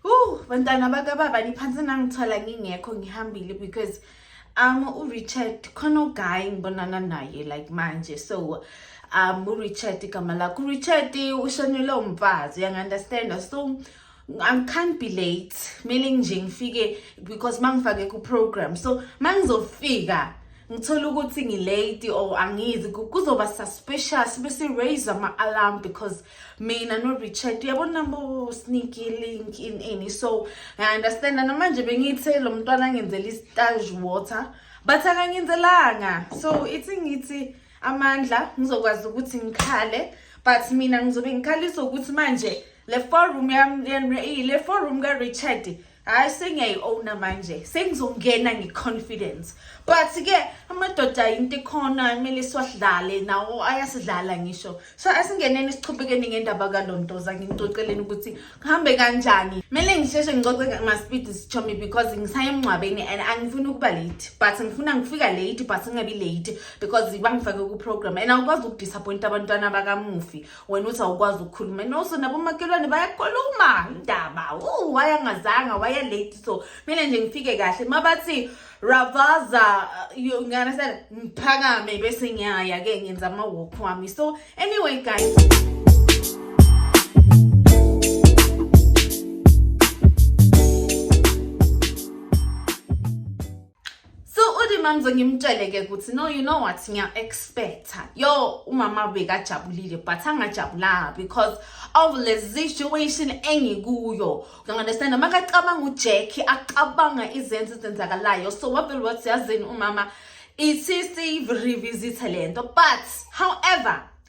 Uh, bantwana bakababa niphansi nangithola ngingekho ngihambile because um uRichard khona uguy ngibonana naye like manje so um uRichard igama lakho uRichard ushonele umfazi uyangi-understanda so I can't be late kumele nje ngifike because mangifake ku-program so mangizofika ngithola ukuthi ngilate or angizi kuzoba suspicious bese raise ama-alarm because mina no-richard uyabona nabo sneaky link in any so ngiunderstanda namanje bengithe lo mntwana angenzela istage water but akangenzelanga so ithi ngithi amandla ngizokwazi ukuthi ngikhale but mina ngizobe ngikhalisa ukuthi manje le forum yami le forum ka-richard hayi sengiyayi-owna manje sengizongena nge-confidence but-ke amadoda yinto ikhona kumele siwadlale nawo ayasidlala ngisho so asingeneni sichubekeni ngendaba kalontoza ngimcoceleni ukuthi kuhambe kanjani kumele ngisheshe ngicoce masipidi sichomi because ngisaye emngcwabeni and angifuni ukuba late but ngifuna ngifika late but ngingabi late because bangifake ku-program and awukwazi ukudisappointa abantwana bakamufi wena uthi awukwazi ukukhuluma and also nabomakhelwane bayakhuluma indaba u wayangazanga waya late so mina nje ngifike kahle uma bathi ravaza uh, you understand ngiphakame bese ngiyaya ke ngenza ama walk wami so anyway guys so uthi mamzo ngimtshele ke ukuthi no you know what ngiya expecta yo umama bekajabulile but angajabulanga because of le situation engikuyo ngiunderstand noma kacabanga uJackie acabanga izenzo ezenzakalayo so wavele wathi yazini umama isisi revisit lento but however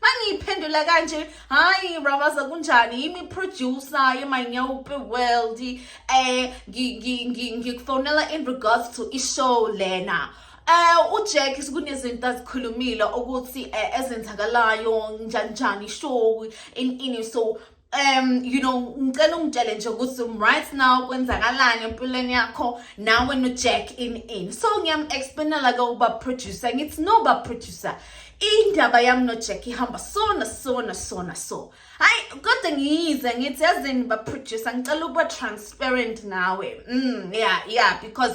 mangiyiphendula kanje hayi rabaza kunjani yimi producer yemanyawupe world eh ngikufonela in regards to ishow lena Eh uJack sikunezinto azikhulumile ukuthi eh, ezenzakalayo njani njani show in in so um you know ngicela ungitshele nje ukuthi right now kwenzakalani empilweni yakho nawe nojack in in so ngiyam-explainela-ke uba producer ngithi no ba producer indaba yami nojack ihamba sona sona sona so hayi kodwa ngiyize ngithi yazini ba-producer ngicela ukuba transparent nawe mm yeah yeah because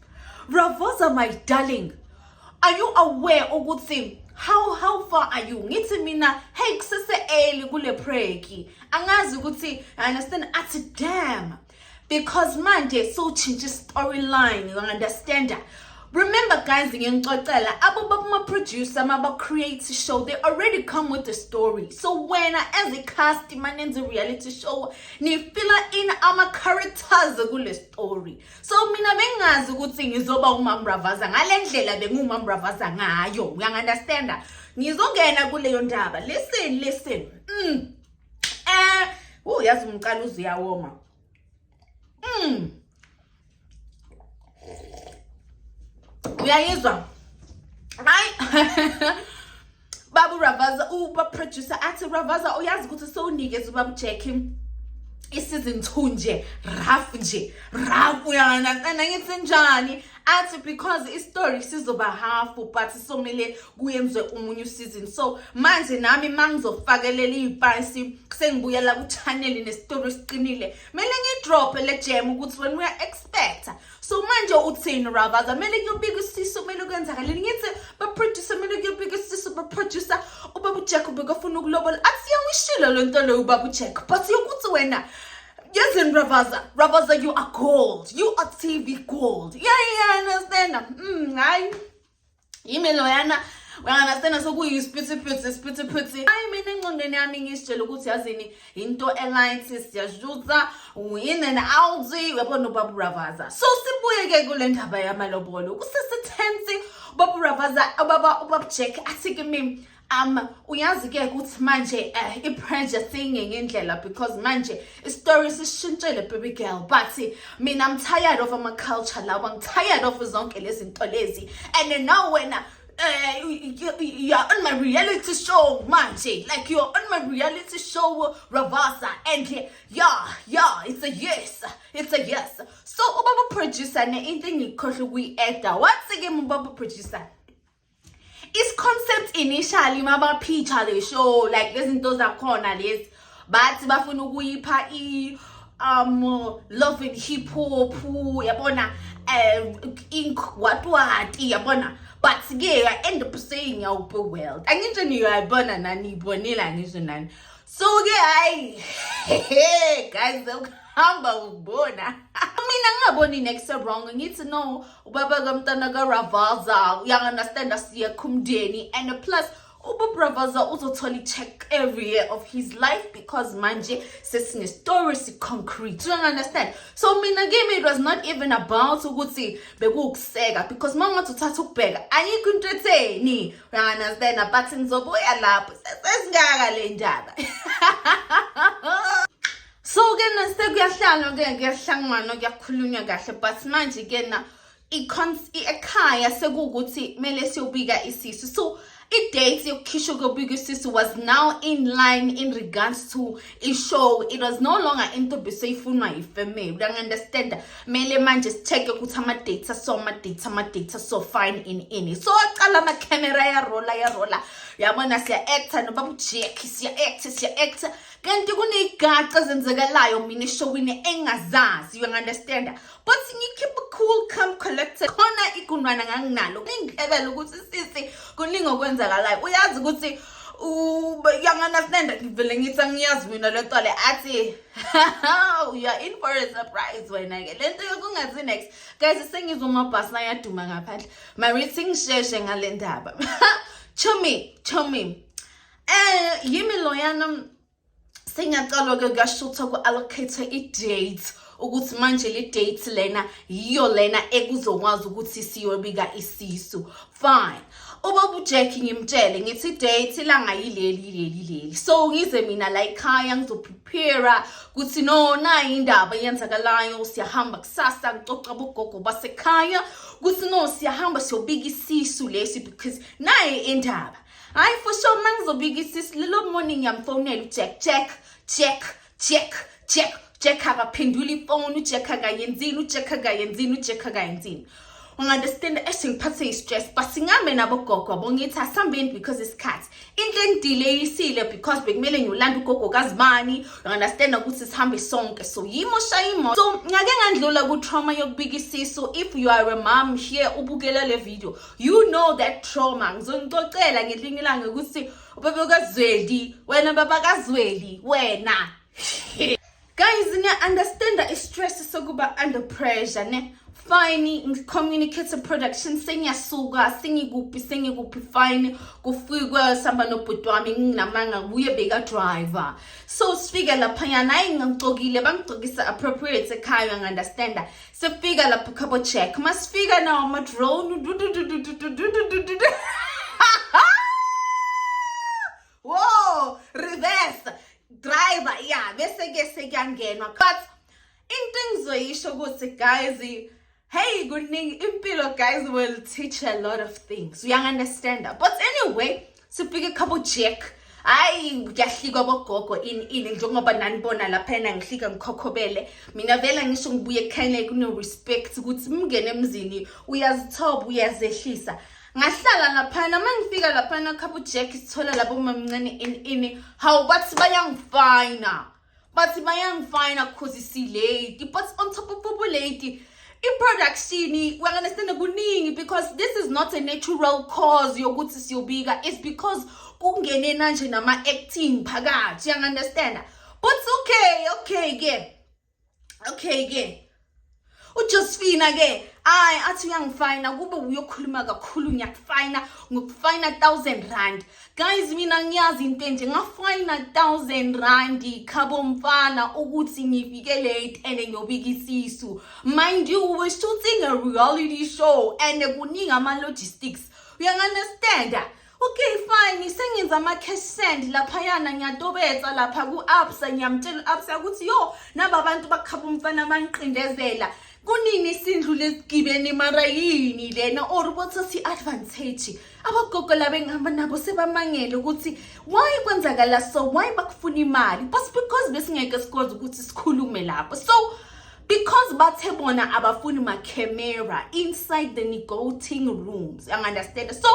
Bravoza my darling. Are you aware ukuthi how how far are you ngithi mina hey kusese early kule preki angazi ukuthi i understand athi damn because manje sowutshintsha storyline you understand remember guys ngiyangixoxela abo bakuma-producer maba-create show they already come with the story so wena as a cast manenza reality show nifila in ama-characters kule story so mina bengingazi ukuthi ngizoba umambravaza ngale ndlela bengiwumambravaza ngayo uyangi-understanda ngizongena kuleyo ndaba listen listen mm. eh uh, yazi umqala uze uyawoma mm. uyayizwa hayi babu ravaza uba producer athi ravaza uyazi ukuthi sowunikeza ubaba jackie i-season two nje rough nje rough uyana cena ngithi njani athi because istory sizoba half but somele kuyenze umunye usizini so manje nami mangizofakelela iy'payisi sengibuyela kuchaneli nesitori siqinile kumele ngidrophe le jam ukuthi wena uya-expecta so manje uthini ravaza kumele kuyobika isisu kumele kwenzakaleni ngithi baproducer kumele kuyobika isisu baproducer ubaba ujack ubekafuna ukulobola athi yawishilo lo nto loyo ubaba ujack but yokuthi wena yezini ravaza ravaza you are gold you are tv gold yeah yeah understand mm, hayi yimi loyana uyanganasena sokuyisipithipithi isipithipithi hayi mina engqondweni yami ngisitshela ukuthi yazini yinto elight siyashutha in and out uyabona ubaba uravaza so sibuye-ke kule ndaba yamalobolo kusesithensi ubaba uravaza ubaba ubaba jack athi kimi um uyazi ke ukuthi manje uh, eh, i-pressure siyingenye indlela because manje isitori sishintshele baby girl but mina i'm tired of ama-culture lawa i'm tired of zonke lezi nto lezi and now wena uh, you're on my reality show manje like you're on my reality show ravasa and yeah yeah it's a yes it's a yes so ubaba producer ne into engikhohle ukuyi-eda wathi ke mubaba producer isiconcept initially mabaphicha le show like lezinto zakhona lezi bathi bafuna ukuyipha i um love and hip hop yabona um ink watwati yabona but ke i end up saying yawube world anginje niyoyibona nani ibonela ngisho nani so ke hayi guys ukuhamba ukubona mina ngingaboni next wrong ngithi no ubaba kamntana karavaza uyanganastanda siyekho umndeni and plus ububravaza uzothola i-check every year of his life because manje sesinestory siconcrete you understand so mina kimi it was not even about ukuthi bekuwukuseka because uma ungathi uthatha ukubheka ayikho into etheni uyanganastanda but ngizobuya lapho sesingaka le ndaba so ke na sekuyahlalwa ke kuyahlanganwa kuyakhulunywa kahle but manje ke na ekhaya sekuwukuthi kumele siyobika isisu so i-date yokukhishwa kobika isisu was now in line in regards to i-show it was no longer into beseyifunwa yifamily uyangi-understanda kumele manje si-check-e ukuthi ama-date aso ama-date ama-date aso fine in ini so aqala ama-camera yarola yarola yabona siya-acta nobaba ujack siya-acta siya-acta kanti kuney'gaxa ezenzekalayo mina eshowini engazazi you understand but ngikhiphe cool come collected khona igundwana nganginalo ngingihlebela ukuthi sisi kuningi okwenzakalayo uyazi ukuthi uyanganasnenda ngivele ngithi angiyazi mina le nto le athi you are in for a surprise wena-ke le nto yokungazi next guys sengizwa amabhasi nayaduma ngaphandle marithi ngisheshe ngale ndaba chumi chumi Eh yimi loyana sengiyacalwa ke kuyashutha ku-allocate i-date ukuthi manje le date lena yiyo lena ekuzokwazi ukuthi siyobika isisu fine ubaba ujack ngimtshele ngithi date ilanga yileli leli leli so ngize mina la ekhaya ngizoprepare ukuthi no nayi indaba eyenzakalayo siyahamba kusasa ngicoca bogogo basekhaya ukuthi no siyahamba siyobika isisu lesi because naye indaba hayi for sure uma ngizobika isisi lelo morning ngiyamfonela ujack jack jack jack jack jack akaphenduli ifoni ujack akayenzini ujack akayenzini ujack akayenzini ungunderstanda eshe ngiphathe i-stress but singambe nabogogo yabo ngithi asihambeni because isikhathi into engidileyisile because bekumele ngiyolanda ugogo kazibani ungunderstanda ukuthi sihambe sonke so yimo shayimo so ngake ngandlula ku-trauma yokubika isisu if you are a mom here ubukela le video you know that trauma ngizonixoxela ngelinye ilanga ukuthi ubaba kazweli wena baba kazweli wena guys niya-understanda i-stress sokuba under pressure ne fine ngicommunicate production sengiyasuka sengikuphi sengikuphi fine kufikwe sihamba nobhuti wami nginamanga kuye bekadriver so sifike laphanyana hayi ngangigcokile bangigcokisa appropriate ekhaya ngi-understanda sefika lapho khabo check masifika nawo amadrone wo reverse driver ya bese ke sekuyangenwa but into engizoyisho ukuthi guys hey kuningi impilo guys will teach a lot of things uyangunderstanda but anyway sibhike khabo jack hayi kuyahlika bogogo ini ini njengoba nanibona lapha yena ngihlika ngikhokhobele mina vele ngisho ngibuye ekhayeni kune-respect ukuthi mngene emzini uyazithoba uyazehlisa ngahlala laphana uma ngifika laphana khabo jack sithola labo mamncane ini ini hawu bathi bayangifayina bathi bayangifina cause silate but on top of ubulate i-production uyanganestende kuningi because this is not a natural cause yokuthi siyobika it's because kungene nanje nama-acting phakathi uyanganestenda but okay okay ke okay ke uJosephina ke hayi athi uyangifayina kube uyokhuluma kakhulu ngiyakufayina ngokufayina 1000 rand guys mina ngiyazi into enje ngafayina 1000 rand khabo mfana ukuthi ngifike late and ngiyobika isisu mind you we shooting a reality show and kuningi ama logistics uyanganestanda Okay fine sengenza ama cash send laphayana ngiyatobetsa lapha ku Absa ngiyamtshela Absa ukuthi yo naba abantu bakhaba umfana bangiqindezela kunini isindlu lesigibeni mara yini lena or ukuthi si advantage abagogo laba engihamba nabo sebamangele ukuthi why kwenzakala so why bakufuna imali but because besingeke sikwazi ukuthi sikhulume lapho so because bathe bona abafuni ma camera inside the negotiating rooms you understand so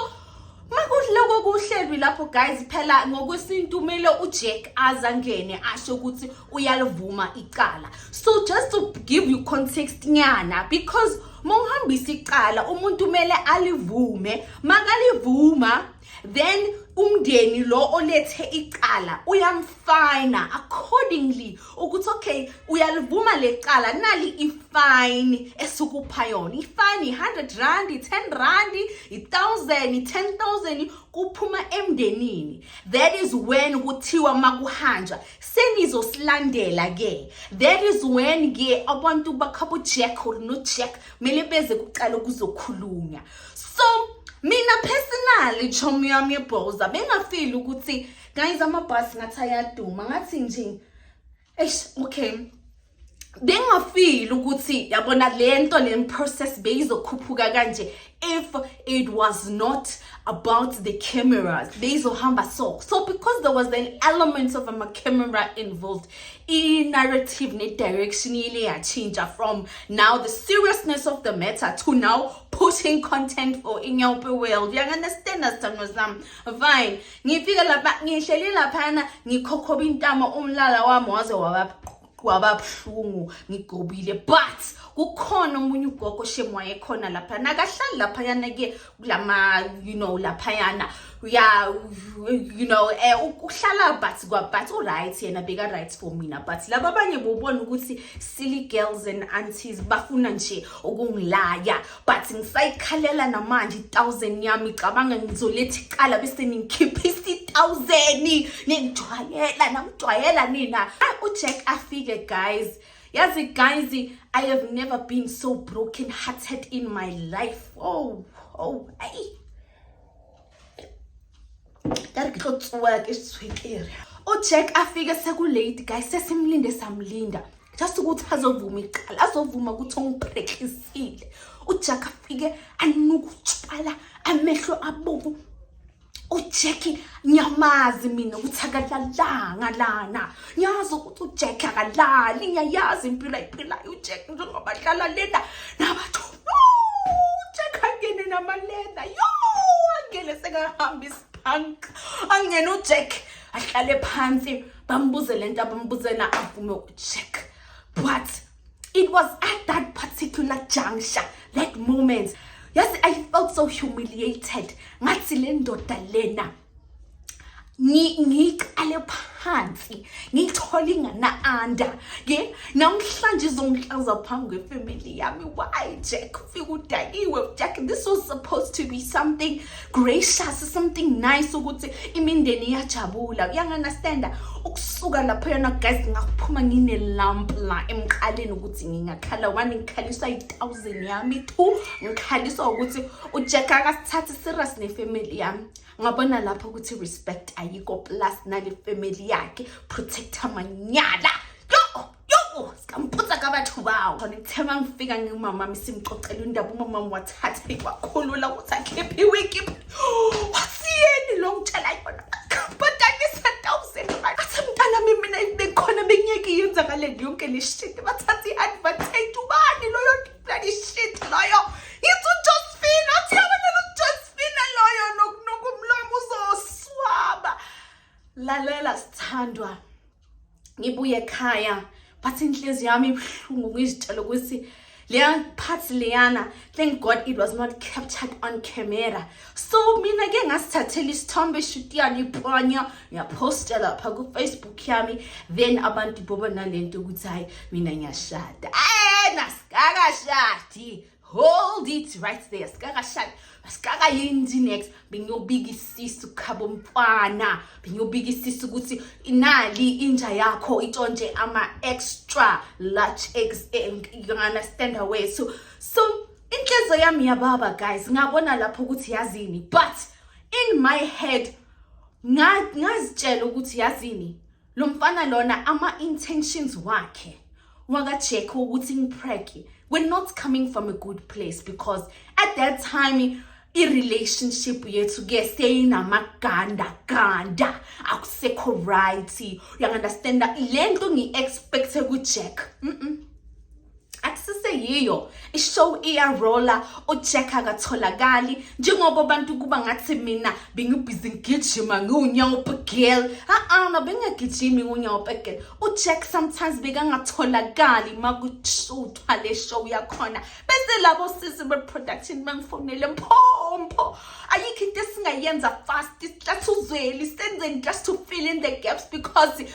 makuloko kuhlelwi lapho guys phela ngokwesintu kumele ujack azangene asho ukuthi uyalivuma icala so just to give you context nyana because uma uhambisa icala umuntu kumele alivume makalivuma then umndeni lo olethe icala uyamfina accordingly ukuthi okay uyalivuma lecala nali ifine esukupha yona ifine i100 rand i10 rand i1000 i10000 kuphuma emndenini that is when kuthiwa makuhanjwa senizosilandela ke that is when ke abantu bakhabo jack or no jack mele beze kuqala ukuzokhulunya so mina personally chomi yami yebhoza bengafili ukuthi guys amabhasi ngathi ayaduma ngathi nje eish okay bengafili ukuthi yabona lento le process beyizokhuphuka kanje if it was not about the cameras beyizohamba so so because there was an element of a camera involved i-narrative ne-direction ile yatshintsha from now the seriousness of the matter to now pushing content for inyawupe world uyanganestanda sithando sam fine ngifike lapha ngihleli laphana ngikhokhoba intamo umlala wami waze wababuhlungu ngigobile but kukhona omunye ugogo shem wayekhona lapha nakahlali laphayana ke kulama you know laphayana ya you know eh ukuhlala but kwa but u right yena beka right for mina but laba abanye bobona ukuthi silly girls and aunties bafuna nje ukungilaya but ngisayikhalela namanje i-thousand yami cabanga ngizoletha icala bese ningikhiphisa i-thousand ningijwayela namjwayela nina ujack afike guys yazi guys i have never been so broken hearted in my life oh oh ayi ka re ke tlo tsoa ke swekere o check a fike sekulate guys sesimlinde samlinda just ukuthi azovuma iqala azovuma ukuthi ongiphrekisile ujack afike anuka utshwala amehlo abovu ujack ngiyamazi mina ukuthi akalalanga lana ngiyazi ukuthi ujack akalali ngiyayazi impilo ayiphilayo ujack njengoba dlala lena nabathu Ujack namaleda. Yo, angene sekahamba isiphank. Angene uJack ahlale phansi bambuze lento abambuze na avume uJack. But it was at that particular juncture, that moment. Yes, I felt so humiliated. Ngathi le ndoda lena ngiqale phansi ngithole ingana-anda ye namhlanje izongihlaza phambi kwefamily yami why jack ufike udakiwe jack this was supposed to be something gracious something nice ukuthi imindeni iyajabula uyanganastanda ukusuka lapho yona guys ngakuphuma nginelamp la emqaleni ukuthi ngingakhala one ngikhaliswa i-thousand yami two ngikhaliswa ukuthi ujack akasithathi serious nefamily yami ngabona lapho ukuthi respect ayikho plus nale family yakhe protect amanyala ngiphutha kabathu bawo khona kuthe uma ngifika ngimama mi simxoxela indaba umama wathathe wakhulula ukuthi akhiphe iwiki wasiyeni lo ngitshela yona bhadanisa thousand mali athi mntana mi mina bekhona bengiyeke yenzakale yonke le shit bathatha i-advantage ubani loyo Bloody shit loyo. It's uJosephine. Athi abantwana uJosephine loyo nokunuka umlomo uzoswaba. Lalela sithandwa. Ngibuye ekhaya. Bathi inhliziyo yami ibuhlungu ngizitshela ukuthi leya part leyana thank god it was not captured on camera so mina ke ngasithathela isithombe shutiyani iponya ngiyaphosta lapha kufacebook yami then abantu bobona le nto ukuthi hhayi mina ngiyashada ena sikakashadi hold it right there sikakashadi sikakayindi next bengiyobika isisu khabo mfana bengiyobika isisu ukuthi inali inja yakho itshontshe ama-extra large eggs eh, you understand away so so inhliziyo yami yababa guys ngabona lapho ukuthi yazini but in my head ngazitshela ukuthi yazini lo mfana lona ama-intentions wakhe wakajekhe ukuthi ngipreke we're not coming from a good place because at that time i-relationship yethu ke seyinamaganda ganda akusekho right uyangunderstanda le nto ngi-expecthe kujack mm -mm. akusiseyiyo ishow iyarola ujack akatholakali njengoba abantu kuba ngathi mina bengibhizi ngigijima ngiwunyawupe girl a-a mabengagijimi ngiwunyawupe girl ujack sometimes bekangatholakali uma kushuthwa le show yakhona bese labo sisi be-production bangifonele mphompho ayikho into esingayenza fast sihlatha uzweli senzeni just to fill in the gaps because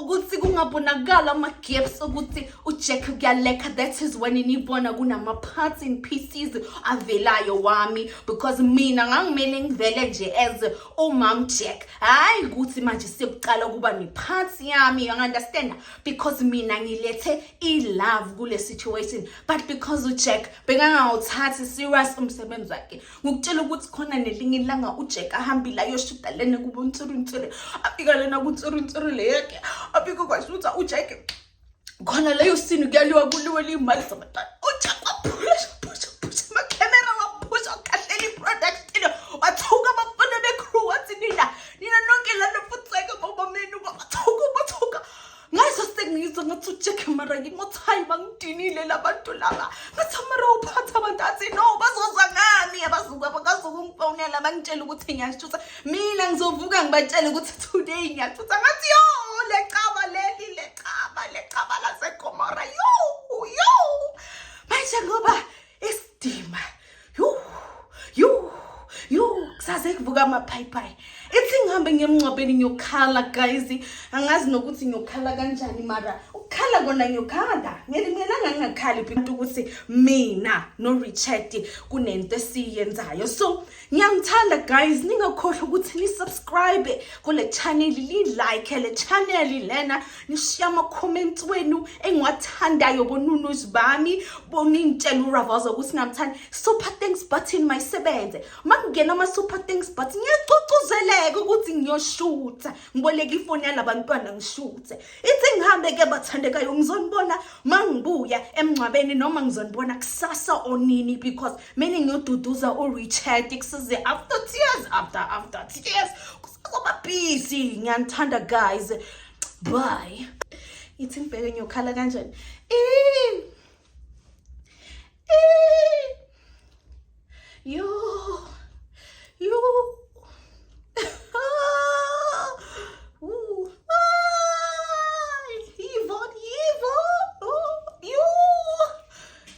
ukuthi kungabonakala ama-gaps ukuthi ujack kuyalekha that is when nibona kunama-parts in pieces avelayo wami because mina ngangimele ngivele nje as umam jack hhayi ukuthi manje sekuqala ukuba ne-parts yami yangu-understanda because mina ngilethe i-love kule situation but because ujack bekangawuthathi serious umsebenzi wakhe ngikutshela ukuthi khona nelinye ilanga ujeka ahambile ayoshida lena kubo ntsiruntsiri afika lena kuntsiruntsiri le yakhe afike kwazi ukuthi ujeke khona leyo sini kuyaliwa kuliwe liyimali zabantwana ujeka waphusha phusha phusha amakhemera waphusha ukhahlela i-product studio wathuka abafana be-crew wathi nina nina nonke lana futseke bobamenu bathuka bathuka ngaze sengizwa ngathi ujack mara ngimothi hayi bangidinile la bantu laba ngathi mara uphatha abantu athi no bazozwa ngami abazuka bakazokungifonela bangitshela ukuthi ngiyashutha mina ngizovuka ngibatshele ukuthi today ngiyashutha ngathi yo lecaba leli lecaba lecaba lasekomora yo yo manje ngoba isidima yu yu yu kusaze kuvuka amaphayipayi ithi ngihambe ngemngcwabeni ngiyokhala guys angazi nokuthi ngiyokhala kanjani mara ukukhala kona ngiyokhala ngelimelanga ngingakhali phela ukuthi mina no richard kunento esiyenzayo so Ngiyamthanda guys, ningakhohlwa ukuthi ni subscribe kule channel, li like le channel lena, nishiya ama comments wenu engiwathandayo bonunuz bami, boningitshela uRavaza ukuthi ngamthanda. Super thanks button mayisebenze. Makungena ama super thanks button ngiyagcugcuzeleka ukuthi ngiyoshutha. Ngiboleka ifoni yalaba ntwana ngishuthe. Ithi ngihambe ke bathandekayo ngizonibona mangbuya emngcwabeni noma ngizonibona kusasa onini because meaning noduduza urichard kusize after tears after after tears kusazoba busy ngiyanithanda guys bye ithi ngibheke ngiyokhala kanjani yo yo